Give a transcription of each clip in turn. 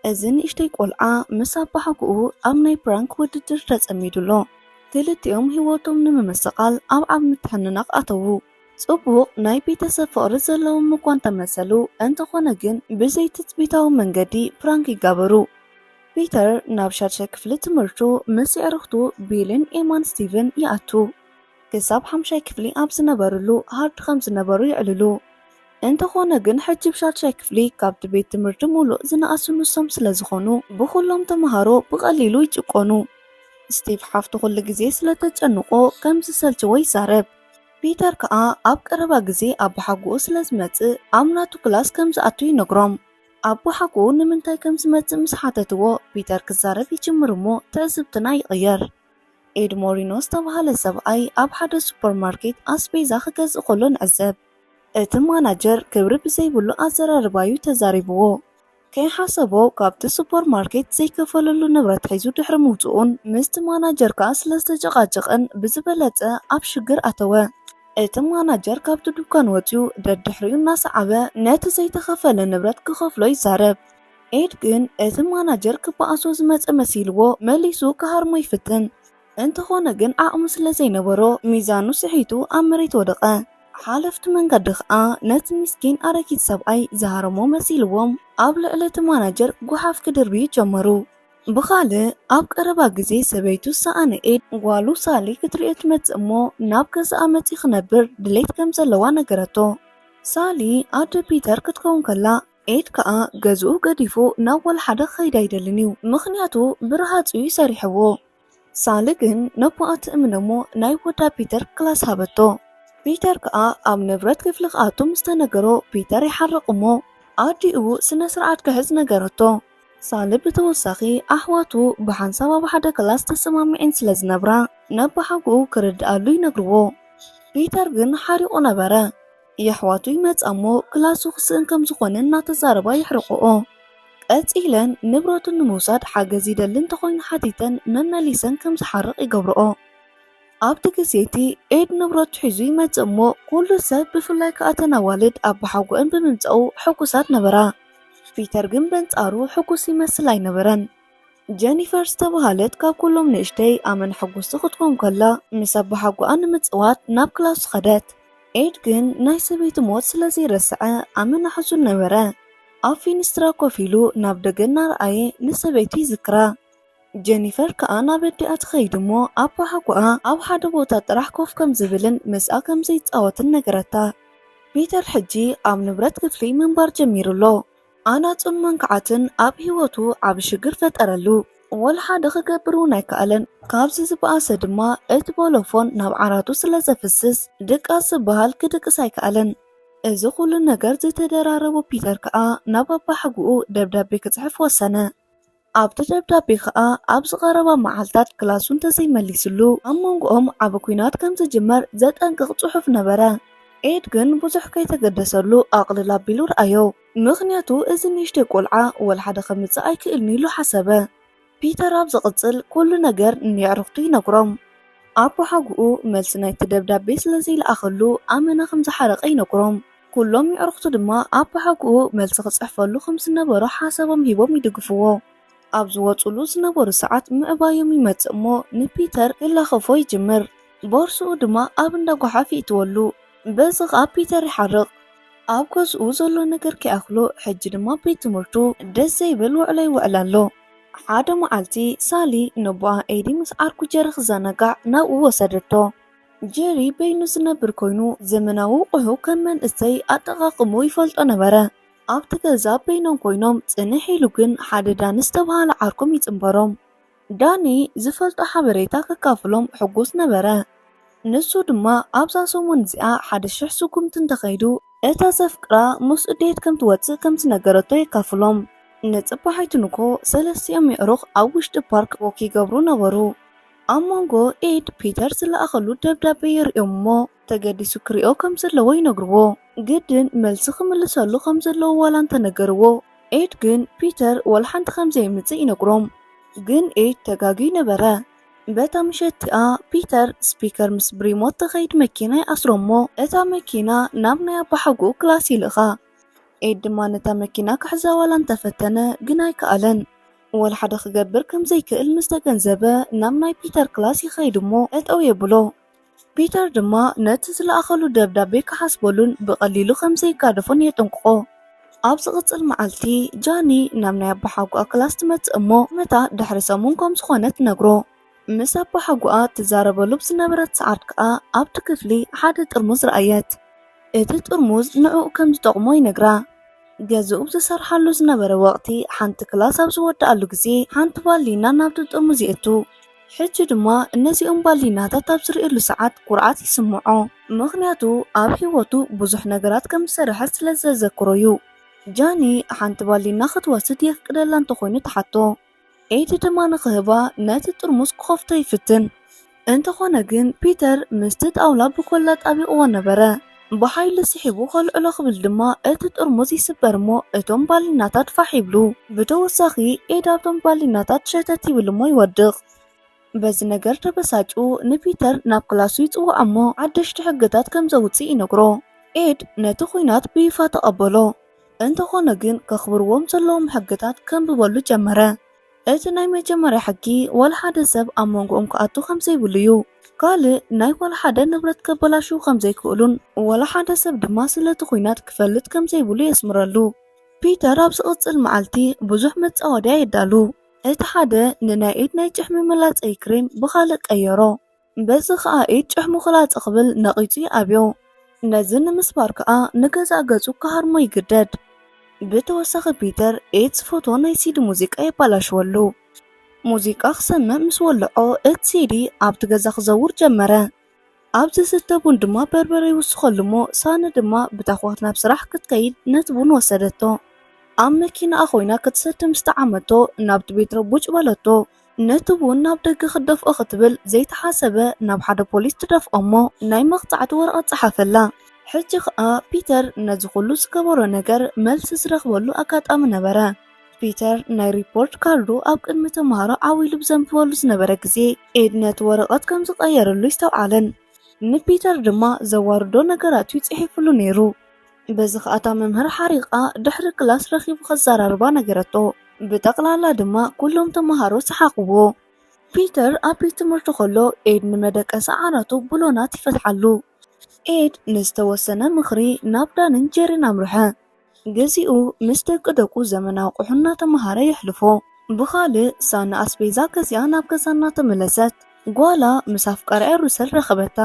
እዚ ንእሽተይ ቆልዓ ምስ ኣባሓጎኡ ኣብ ናይ ፕራንክ ውድድር ተጸሚዱ ኣሎ። ክልቲኦም ህይወቶም ንምምስቓል ኣብ ዓቢ ምትሕንናቕ ኣተዉ። ጽቡቕ ናይ ቤተሰብ ፍቕሪ ዘለዎም እኳ እንተመሰሉ፣ እንተኾነ ግን ብዘይትጽቢታዊ መንገዲ ፕራንክ ይጋበሩ። ፒተር ናብ ሻድሻይ ክፍሊ ትምህርቱ ምስ የዕርኽቱ ቢልን ኤማን ስቲቭን ይኣቱ። ክሳብ ሓምሻይ ክፍሊ ኣብ ዝነበርሉ ሃርድ ከም ዝነበሩ የዕልሉ። እንተኾነ ግን ሕጂ ብ ሻድሻይ ክፍሊ ካብቲ ቤት ትምህርቲ ምሉእ ዝነኣሱ ንሶም ስለ ዝኾኑ ብኹሎም ተመሃሮ ብቐሊሉ ይጭቆኑ። ስቲቭ ሓፍቱ ኩሉ ግዜ ስለ ተጨንቖ ከም ዝሰልቸዎ ይዛረብ። ፒተር ከኣ ኣብ ቀረባ ግዜ ኣቦሓጎኡ ስለ ዝመጽእ ኣብ ናቱ ክላስ ከም ዝኣቱ ይነግሮም። ኣቦሓጎኡ ንምንታይ ከም ዝመጽእ ምስ ሓተትዎ ፒተር ክዛረብ ይጅምር እሞ ትዕዝብትና ይቕየር። ኤድ ሞሪኖ ዝተባህለ ሰብኣይ ኣብ ሓደ ሱፐርማርኬት ኣስቤዛ ክገዝእ ከሎ ንዕዘብ። እቲ ማናጀር ክብሪ ብዘይብሉ ኣዘራርባ'ዩ ተዛሪብዎ። ከይሓሰቦ ካብቲ ሱፐርማርኬት ዘይከፈለሉ ንብረት ሒዙ ድሕሪ ምውጽኡን ምስቲ ማናጀር ከኣ ስለ ዝተጨቓጨቐን ብዝበለጸ ኣብ ሽግር ኣተወ። እቲ ማናጀር ካብቲ ዱኳን ወጺኡ ደድሕሪኡ እናሰዓበ ነቲ ዘይተኸፈለ ንብረት ክኸፍሎ ይዛረብ። ኤድ ግን እቲ ማናጀር ክበኣሶ ዝመጸ መሲልዎ መሊሱ ክሃርሞ ይፍትን። እንተኾነ ግን ዓቕሚ ስለ ዘይነበሮ ሚዛኑ ስሒቱ ኣብ መሬት ወደቐ። ሓለፍቲ መንገዲ ከኣ ነቲ ሚስኪን ኣረጊት ሰብኣይ ዝሃረሞ መሲልዎም ኣብ ልዕሊ እቲ ማናጀር ጉሓፍ ክድርብዩ ጀመሩ። ብኻልእ ኣብ ቀረባ ግዜ ሰበይቱ ዝሰኣነ ኤድ ጓሉ ሳሊ ክትርእዮ ትመጽእ እሞ ናብ ገዛኣ መጺኡ ክነብር ድሌት ከም ዘለዋ ነገረቶ። ሳሊ ኣደ ፒተር ክትከውን ከላ ኤድ ከኣ ገዝኡ ገዲፉ ናብ ወልሓደ ክኸይድ ኣይደልን እዩ ምኽንያቱ ብረሃጹ እዩ ሰሪሕዎ። ሳሊ ግን ነቦኣ ትእምኖ እሞ ናይ ወዳ ፒተር ክላስ ሃበቶ። ፒተር ከኣ ኣብ ንብረት ክፍሊ ክኣቱ ምስ ተነገሮ ፒተር ይሓርቕ እሞ ኣዲኡ ስነ ስርዓት ክሕዝ ነገረቶ። ሳሊ ብተወሳኺ ኣሕዋቱ ብሓንሳብ ኣብ ሓደ ክላስ ተሰማሚዔን ስለ ዝነብራ ነቦሓጎኡ ክርድኣሉ ይነግርዎ። ፒተር ግን ሓሪቑ ነበረ። የሕዋቱ ይመጻ'ሞ ክላሱ ክስእን ከም ዝኾነ እናተዛረባ የሕርቐኦ። ቀጺለን ንብረቱ ንምውሳድ ሓገዝ ይደሊ እንተኾይኑ ሓቲተን መመሊሰን ከም ዝሓርቕ ይገብርኦ። ኣብቲ ግዜ'ቲ ኤድ ንብረቱ ሒዙ ይመጽእ'ሞ ኩሉ ሰብ ብፍላይ ከኣ እተን ኣዋልድ ኣባሓጎኣን ብምምጻኡ ሕጉሳት ነበራ። ፒተር ግን በንጻሩ ሕጉስ ይመስል ኣይነበረን። ጀኒፈር ዝተብሃለት ካብ ኩሎም ንእሽተይ ኣመን ሕጉስቲ ክትኮን ከላ ምስ ኣቦሓጎኣ ንምጽዋት ናብ ክላሱ ኸደት። ኤድ ግን ናይ ሰበይቱ ሞት ስለ ዘይረስዐ ኣመና ሕዙን ነበረ። ኣብ ፊንስትራ ኮፍ ኢሉ ናብ ደገ እናረኣየ ንሰበይቱ ይዝክራ። ጀኒፈር ከኣ ናብ ኣዲኣ ትኸይድ እሞ ኣቦሓጎኣ ኣብ ሓደ ቦታ ጥራሕ ኮፍ ከም ዝብልን ምስኣ ከም ዘይጻወትን ነገረታ። ፒተር ሕጂ ኣብ ንብረት ክፍሊ ምንባር ጀሚሩ ኣሎ። ኣናጹን መንካዓትን ኣብ ህይወቱ ዓቢ ሽግር ፈጠረሉ። ወላ ሓደ ክገብር እውን ኣይከኣለን። ካብዚ ዝበኣሰ ድማ እቲ ቦሎፎን ናብ ዓራቱ ስለ ዘፍስስ ድቃስ ዝበሃል ክድቅስ ኣይከኣለን። እዚ ኩሉ ነገር ዝተደራረቦ ፒተር ከኣ ናብ ኣባሓጉኡ ደብዳቤ ክጽሕፍ ወሰነ። ኣብቲ ደብዳቤ ከኣ ኣብዚ ቀረባ መዓልታት ክላሱ እንተዘይመሊስሉ ኣብ መንጎኦም ዓቢ ኲናት ከም ዝጅመር ዘጠንቅቕ ጽሑፍ ነበረ። ኤድ ግን ብዙሕ ከይተገደሰሉ ኣቕልል ኣቢሉ ረኣዮ። ምኽንያቱ እዚ ንእሽተይ ቆልዓ ወልሓደ ከምጽእ ኣይክእልን'ዩ ኢሉ ሓሰበ። ፒተር ኣብ ዝቕጽል ኩሉ ነገር ንየዕሩኽቱ ይነግሮም። ኣቦሓጎኡ መልሲ ናይቲ ደብዳቤ ስለ ዘይለኣኸሉ ኣመና ከም ዝሓረቐ ይነግሮም። ኩሎም የዕሩኽቱ ድማ ኣባሓጎኡ መልሲ ክጽሕፈሉ ከም ዝነበሮ ሓሳቦም ሂቦም ይድግፍዎ። ኣብ ዝወጽኡሉ ዝነበሩ ሰዓት ምዕባዮም ይመጽእ እሞ ንፒተር ክላኸፎ ይጅምር። ቦርስኡ ድማ ኣብ እንዳ ጎሓፍ ይእትወሉ። በዚ ከኣ ፒተር ይሓርቕ። ኣብ ገዝኡ ዘሎ ነገር ከይኣኽሎ ሕጂ ድማ ቤት ትምህርቱ ደስ ዘይብል ውዕሎ ይውዕል ኣሎ። ሓደ መዓልቲ ሳሊ ነቦኣ ኤዲ ምስ ዓርኩ ጀሪ ክዘናጋዕ ናብኡ ወሰደቶ። ጀሪ በይኑ ዝነብር ኮይኑ ዘመናዊ ቁሑ ከም መንእሰይ ኣጠቃቅምኡ ይፈልጦ ነበረ። ኣብቲ ገዛ በይኖም ኮይኖም ጽንሕ ኢሉ ግን ሓደ ዳኒ ዝተብሃለ ዓርኮም ይጽንበሮም። ዳኒ ዝፈልጦ ሓበሬታ ከካፍሎም ሕጉስ ነበረ። ንሱ ድማ ኣብዛ ሰሙን እዚኣ ሓደ ሽሕ ስጉምቲ እንተኸይዱ እታ ዘፍቅራ ምስኡ ዴት ከም ትወጽእ ከም ዝነገረቶ የካፍሎም። ንጽባሒቱ ንግሆ ሰለስቲኦም የዕሩኽ ኣብ ውሽጢ ፓርክ ዎክ ይገብሩ ነበሩ። ኣብ መንጎ ኤድ ፒተር ዝለኣኸሉ ደብዳቤ የርእዮም እሞ ተገዲሱ ክሪኦ ከም ዘለዎ ይነግርዎ። ግድን መልሲ ክምልሰሉ ከም ዘለዎ ዋላ እንተ ነገርዎ ኤድ ግን ፒተር ዋላ ሓንቲ ከም ዘየምጽእ ይነግሮም። ግን ኤድ ተጋግዩ ነበረ። በታ ምሸት እቲኣ ፒተር ስፒከር ምስ ብሪሞት ተኸይድ መኪና ይኣስሮ እሞ እታ መኪና ናብ ናይ ኣባሓጎኡ ክላስ ይልእኻ። ኤድ ድማ ነታ መኪና ክሕዛ ዋላ እንተፈተነ ግን ኣይከኣለን። ወላ ሓደ ክገብር ከም ዘይክእል ምስ ተገንዘበ ናብ ናይ ፒተር ክላስ ይኸይድ እሞ ጠጠው የብሎ። ፒተር ድማ ነቲ ዝለኣኸሉ ደብዳቤ ክሓስበሉን ብቐሊሉ ከም ዘይጋደፎን የጠንቅቖ። ኣብ ዝቕጽል መዓልቲ ጃኒ ናብ ናይ ኣቦሓጎኣ ክላስ ትመጽእ እሞ መታ ድሕሪ ሰሙን ከም ዝኾነ ትነግሮ። ምስ ኣባሓጎኣ ትዛረበሉ ብዝነበረት ሰዓት ከኣ ኣብቲ ክፍሊ ሓደ ጥርሙዝ ረኣየት። እቲ ጥርሙዝ ንዕኡ ከም ዝጠቕሞ ይነግራ። ገዝኡ ኣብ ዝሰርሓሉ ዝነበረ ወቕቲ ሓንቲ ክላስ ኣብ ዝወድኣሉ ግዜ ሓንቲ ባሊና ናብቲ ጥርሙዝ የእቱ። ሕጂ ድማ ነዚኦም ባሊናታት ኣብ ዝርእየሉ ሰዓት ኩርዓት ይስምዖ። ምኽንያቱ ኣብ ህይወቱ ብዙሕ ነገራት ከም ዝሰርሐ ስለ ዘዘክሮ'ዩ። ጃኒ ሓንቲ ባሊና ክትወስድ የፍቅደላ እንተኾይኑ ትሓቶ። ኤዲ ድማ ንኽህባ ነቲ ጥርሙስ ክኸፍቶ ይፍትን። እንተኾነ ግን ፒተር ምስቲ ጣውላ ብኮላ ጣቢቕዎ ነበረ። ብሓይሊ ስሒቡ ከልዕሎ ክብል ድማ እቲ ጥርሙዝ ይስበር እሞ እቶም ባሊናታት ፋሕ ይብሉ። ብተወሳኺ ኤዲ ኣብቶም ባሊናታት ሸተት ይብል እሞ ይወድቕ። በዚ ነገር ተበሳጭኡ ንፒተር ናብ ክላሱ ይጽውዖ እሞ ሓደሽቲ ሕግታት ከም ዘውጽእ ይነግሮ። ኤድ ነቲ ኹናት ብይፋ ተቐበሎ። እንተኾነ ግን ከኽብርዎም ዘለዎም ሕግታት ከንብበሉ ጀመረ። እቲ ናይ መጀመርያ ሕጊ ዋላ ሓደ ሰብ ኣብ መንጎኦም ክኣቱ ከም ዘይብሉ እዩ። ካልእ ናይ ዋላ ሓደ ንብረት ከበላሽዉ ከም ዘይክእሉን ዋላ ሓደ ሰብ ድማ ስለቲ ኲናት ክፈልጥ ከም ዘይብሉ የስምረሉ። ፒተር ኣብ ዝቕጽል መዓልቲ ብዙሕ መጻወድያ የዳሉ። እቲ ሓደ ንናይ ኢድ ናይ ጭሕሚ መላጸዪ ክሬም ብኻልእ ቀየሮ። በዚ ኸኣ ኢድ ጭሕ ምዅላጸ ክብል ነቒጹ ይኣብዮ። ነዚ ንምስባር ከኣ ንገዛእ ገጹ ክሃርሞ ይግደድ። ብተወሳኺ ፒተር ኢድስ ፎቶ ናይ ሲዲ ሙዚቃ የባላሽወሉ። ሙዚቃ ክሰምዕ ምስ ወልዖ እቲ ሲዲ ኣብቲ ገዛ ክዘውር ጀመረ። ኣብ ዝስተ ቡን ድማ በርበረ ይውስኸሉ እሞ ሳነ ድማ ብታዅት ናብ ስራሕ ክትከይድ ነቲ ቡን ወሰደቶ። ኣብ መኪናኣ ኰይና ክትሰቲ ምስ ጠዓመቶ ናብቲ ቤት ረቡጭ በለቶ። ነቲ ቡን ናብ ደገ ክትደፍኦ ክትብል ዘይተሓሰበ ናብ ሓደ ፖሊስ ትደፍኦ'ሞ ናይ መቕጻዕቲ ወረቐት ጸሓፈላ። ሕጂ ኸኣ ፒተር ነዚ ኹሉ ዝገበሮ ነገር መልሲ ዝረኽበሉ ኣጋጣሚ ነበረ። ፒተር ናይ ሪፖርት ካርዱ ኣብ ቅድሚ ተመሃሮ ዓው ኢሉ ብዘንብበሉ ዝነበረ ግዜ፣ ኤድ ነቲ ወረቐት ከም ዝቐየረሉ ይስተውዓልን ንፒተር ድማ ዘዋርዶ ነገራት'ዩ ጽሒፉሉ ነይሩ። በዚ ኸኣ እታ መምህር ሓሪቓ ድሕሪ ክላስ ረኺቡ ከዘራርባ ነገረቶ። ብጠቕላላ ድማ ኩሎም ተመሃሮ ሰሓቑዎ። ፒተር ኣብ ቤት ትምህርቲ ኸሎ ኤድ ንመደቀሲ ዓራቱ ብሎናት ይፈትሓሉ። ኤድ ንዝተወሰነ ምኽሪ ናብ ዳንን ጄሪን ኣምርሐ። ግዚኡ ምስ ደቂደቁ ዘመናዊ ኣቑሑ እናተመሃረ የሕልፎ። ብኻልእ ሳኒ ኣስቤዛ ገዚኣ ናብ ገዛ እናተመለሰት ጓላ ምስ ኣፍቃሪኣ ሩሰል ረኸበታ።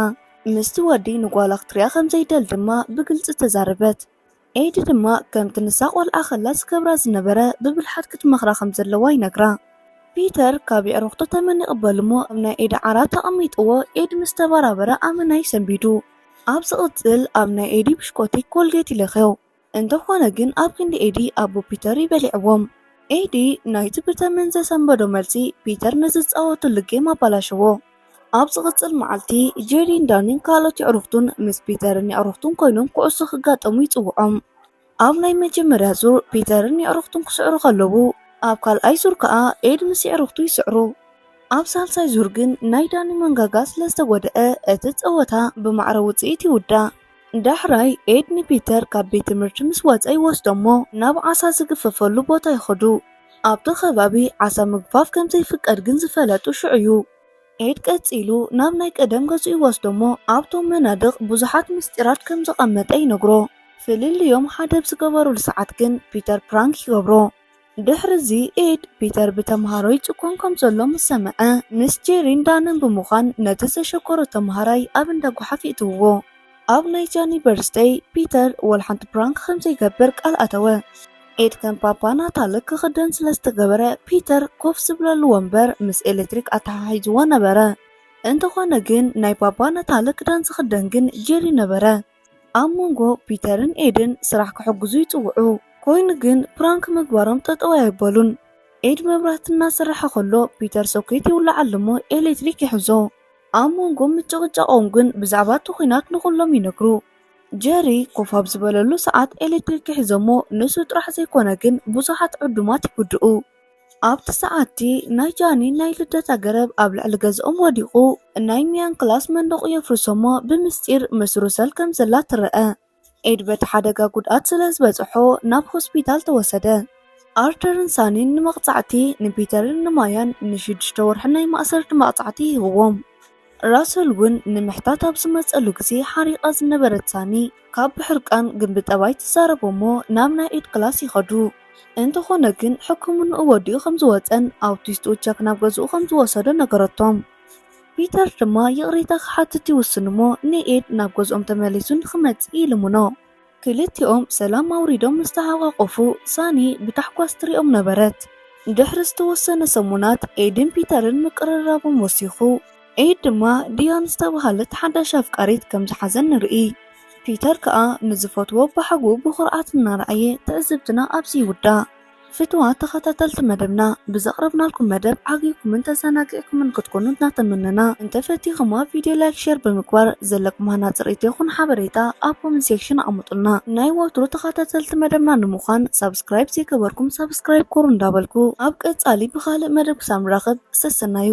ምስቲ ወዲ ንጓላ ክትሪኣ ከም ዘይደል ድማ ብግልጺ ተዛረበት። ኤዲ ድማ ከምቲ ንሳ ቆልዓ ከላ ዝገብራ ዝነበረ ብብልሓት ክትመኽራ ከም ዘለዋ ይነግራ። ፒተር ካብ የዕሩኽቱ ተመን ይቕበል እሞ ኣብ ናይ ኤዲ ዓራት ኣቐሚጥዎ ኤዲ ምስ ተበራበረ ኣመና ይሰንቢዱ። ኣብ ዝቕጽል ኣብ ናይ ኤዲ ብሽኮቲ ኮልጌት ይለኽዮ። እንተኾነ ግን ኣብ ክንዲ ኤዲ ኣቦ ፒተር እዩ በሊዕዎም። ኤዲ ናይቲ ብተመን ዘሰንበዶ መልሲ ፒተር ንዝጻወትሉ ጌም ኣባላሸዎ። ኣብ ዝቕጽል መዓልቲ ጄሪን ዳኒን ካልኦት የዕሩኽቱን ምስ ፒተርን የዕሩኽቱን ኮይኖም ኩዕሶ ክጋጠሙ ይጽውዖም። ኣብ ናይ መጀመርያ ዙር ፒተርን የዕሩኽቱን ክስዕሩ ከለዉ፣ ኣብ ካልኣይ ዙር ከኣ ኤድ ምስ የዕሩኽቱ ይስዕሩ። ኣብ ሳልሳይ ዙር ግን ናይ ዳኒ መንጋጋ ስለዝተጎድኣ እቲ ጸወታ ብማዕረ ውጽኢት ይውዳእ። ዳሕራይ ኤድ ንፒተር ካብ ቤት ትምህርቲ ምስ ወጸ ይወስዶ'ሞ ናብ ዓሳ ዝግፈፈሉ ቦታ ይኸዱ። ኣብቲ ከባቢ ዓሳ ምግፋፍ ከም ዘይፍቀድ ግን ዝፈለጡ ሽዑ'ዩ። ኤድ ቀጺሉ ናብ ናይ ቀደም ገዝኡ ይወስዶ'ሞ ኣብቶም መናድቕ ብዙሓት ምስጢራት ከም ዘቐመጠ ይነግሮ። ፍልልዮም ሓደብ ዝገበሩሉ ሰዓት ግን ፒተር ፕራንክ ይገብሮ። ድሕርዚ ኤድ፣ ፒተር ብተምሃሮ ይጭኰን ከም ዘሎ ምስ ሰምዐ፣ ምስ ጄሪን ዳንን ብምዃን ነቲ ዘሸገሮ ተምሃራይ ኣብ እንዳ ጐሓፍ የእትውዎ። ኣብ ናይ ጃኒ በርዝደይ፣ ፒተር ወላ ሓንቲ ፕራንክ ከም ዘይገብር ቃል ኣተወ። ኤድ ከም ፓፓ ናታል ክኽደን ስለ ዝተገበረ፣ ፒተር ኮፍ ዝብለሉ ወንበር ምስ ኤለትሪክ ኣተሓሒዝዎ ነበረ። እንተዀነ ግን፣ ናይ ፓፓ ናታል ክዳን ዝኽደን ግን ጄሪ ነበረ። ኣብ መንጎ ፒተርን ኤድን ስራሕ ክሕግዙ ይጽውዑ፣ ኮይኑ ግን ፕራንክ ምግባሮም ጠጠው ኣየበሉን። ኤድ መብራህቲ እናሰረሐ ከሎ ፒተር ሶኬት ይውለዓሉ'ሞ ኤሌክትሪክ ይሕዞ። ኣብ መንጎ ምጭቕጫቖም ግን ብዛዕባ እቲ ኹናት ንኹሎም ይነግሩ። ጀሪ ኮፍ ኣብ ዝበለሉ ሰዓት ኤሌክትሪክ ይሕዞ'ሞ ንሱ ጥራሕ ዘይኮነ ግን ብዙሓት ዕዱማት ይጉድኡ። ኣብቲ ሰዓት'ቲ ናይ ጃኒን ናይ ልደታ ገረብ ኣብ ልዕሊ ገዝኦም ወዲቑ፣ ናይ ሚያን ክላስ መንደቑ የፍርሶ'ሞ ብምስጢር ምስ ሩሰል ከም ዘላ ትረኣ። ኤድ በቲ ሓደጋ ጉድኣት ስለ ዝበጽሖ ናብ ሆስፒታል ተወሰደ። ኣርተርን ሳኒን ንመቕጻዕቲ ንፒተርን ንማያን ንሽዱሽተ ወርሒ ናይ ማእሰርቲ መቕጻዕቲ ይህብዎም። ራሰል እውን ንምሕታት ኣብ ዝመጸሉ ግዜ ሓሪቓ ዝነበረት ሳኒ ካብ ብሕርቃን ግን ብጠባይ ትዛረቦ እሞ ናብ ናይ ኢድ ክላስ ይኸዱ። እንተኾነ ግን ሕክምንኡ ወዲኡ ከም ዝወጸን ኣውቲስቱ ቸክ ናብ ገዝኡ ከም ዝወሰዶ ነገረቶም። ፒተር ድማ ይቕሬታ ክሓትት ይውስን እሞ ንኤድ ናብ ገዝኦም ተመሊሱ ንኽመጽእ ይልምኖ። ክልቲኦም ሰላም ኣውሪዶም ምስ ተሓቛቖፉ፣ ሳኒ ብታሕጓስ ትሪኦም ነበረት። ድሕሪ ዝተወሰነ ሰሙናት፣ ኤድን ፒተርን ምቅርራቦም ወሲኹ። ኤድ ድማ ዲያን ዝተብሃለት ሓዳሽ ኣፍቃሪት ከም ዝሓዘ ንርኢ። ፒተር ከኣ ንዝፈትዎ በሓጉ ብኹርዓት እናረኣየ ትዕዝብትና ኣብዚ ይውዳእ። ፍቱዋት ተኸታተልቲ መደብና ብዘቕረብናልኩም መደብ ዓጊብኩምን ተዘናጊዕኩምን ክትኮኑ እናተመነና እንተፈቲኹማ ቪድዮ ላይክ ሼር ብምግባር ዘለኩም ሃናፂ ርእይቶ ይኹን ሓበሬታ ኣብ ኮመንት ሴክሽን ኣቐምጡልና። ናይ ወትሩ ተኸታተልቲ መደብና ንምዃን ሳብስክራይብ ዘይገበርኩም ሳብስክራይብ ኩሩ እንዳበልኩ ኣብ ቀፃሊ ብኻልእ መደብ ክሳብ ንራኸብ ሰሰናዩ።